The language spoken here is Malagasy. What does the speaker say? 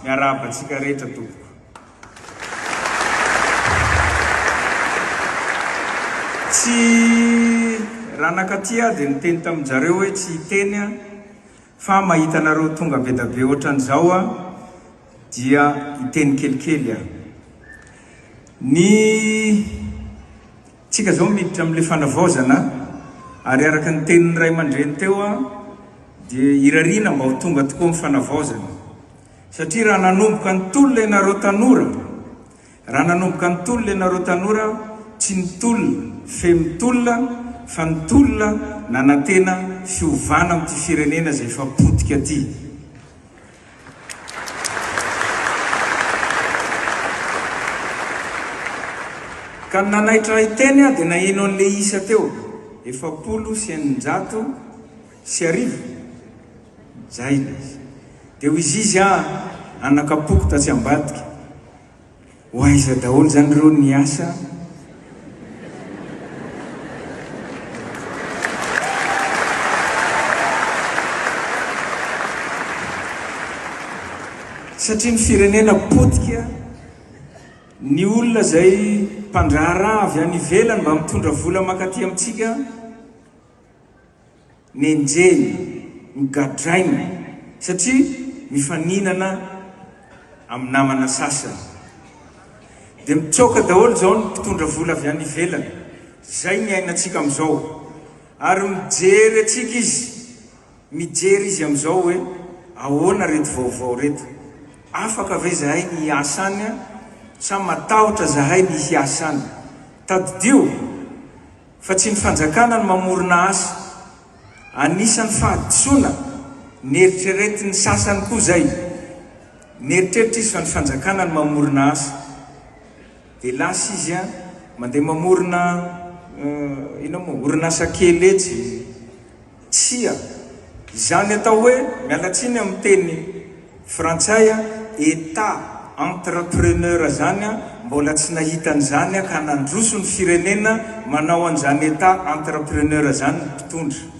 Miarahaba antsika rehetra tompoko. Tsy ranakatia dia niteny taminjareo hoe tsy hiteny aho fa mahita anareo tonga bedabe ohatran'izao aho dia hiteny kelikely aho. Ny Tsika zao miditra amle fanavaozana ary araka ny tenin'ny ray aman-dreny teo an dia irariana mba ho tonga tokoa ny fanavaozana satria raha nanomboka ny tolona ianareo tanora raha nanomboka ny tolona ianareo tanora tsy ny tolona feno tolona fa ny tolona nanantena fiovana amty firenena zay efa potika ty Ka ny nanaitra ahy teny aho dia naheno an'ilay isa teo, efapolo sy eninjato sy arivo? Zay ilay izy. Dia hoy Zizy, Aa, nanaka-poko tatsy ambadika. Ho aiza daholo zany reo ny asa? Satria ny firenena potika, ny olona zay mpandraharaha avy any ivelany mba mitondra vola makaty amintsika, nenjehina, nogadraina satria mifaninana amin'ny namana sasany. Dia mitsoaka daholo izao ny mpitondra vola avy any ivelany, izay ny iainantsika amin'izao. Ary mijery antsika izy, mijery izy amin'izao hoe ahoana ireto vaovao ireto. Afaka ve izahay ny hiasa any sa matahotra izahay ny hiasa any? Tadidio Fa tsy ny fanjakana no mamorona asa. Anisan'ny fahadisoana neritreretin'ny sasany koa izay. Mieritreritra izy fa ny fanjakana no mamorona asa. Dia lasa izy an, mandeha mamorona inona moa, orinasa kely etsy. Tsia. Izany atao hoe, miala tsiny amin'ny teny frantsay, Etat entrepreneur zany an, mbola tsy nahita an'izany ka nandroso ny firenena manao an'izany Etat entrepreneur zany ny mpitondra.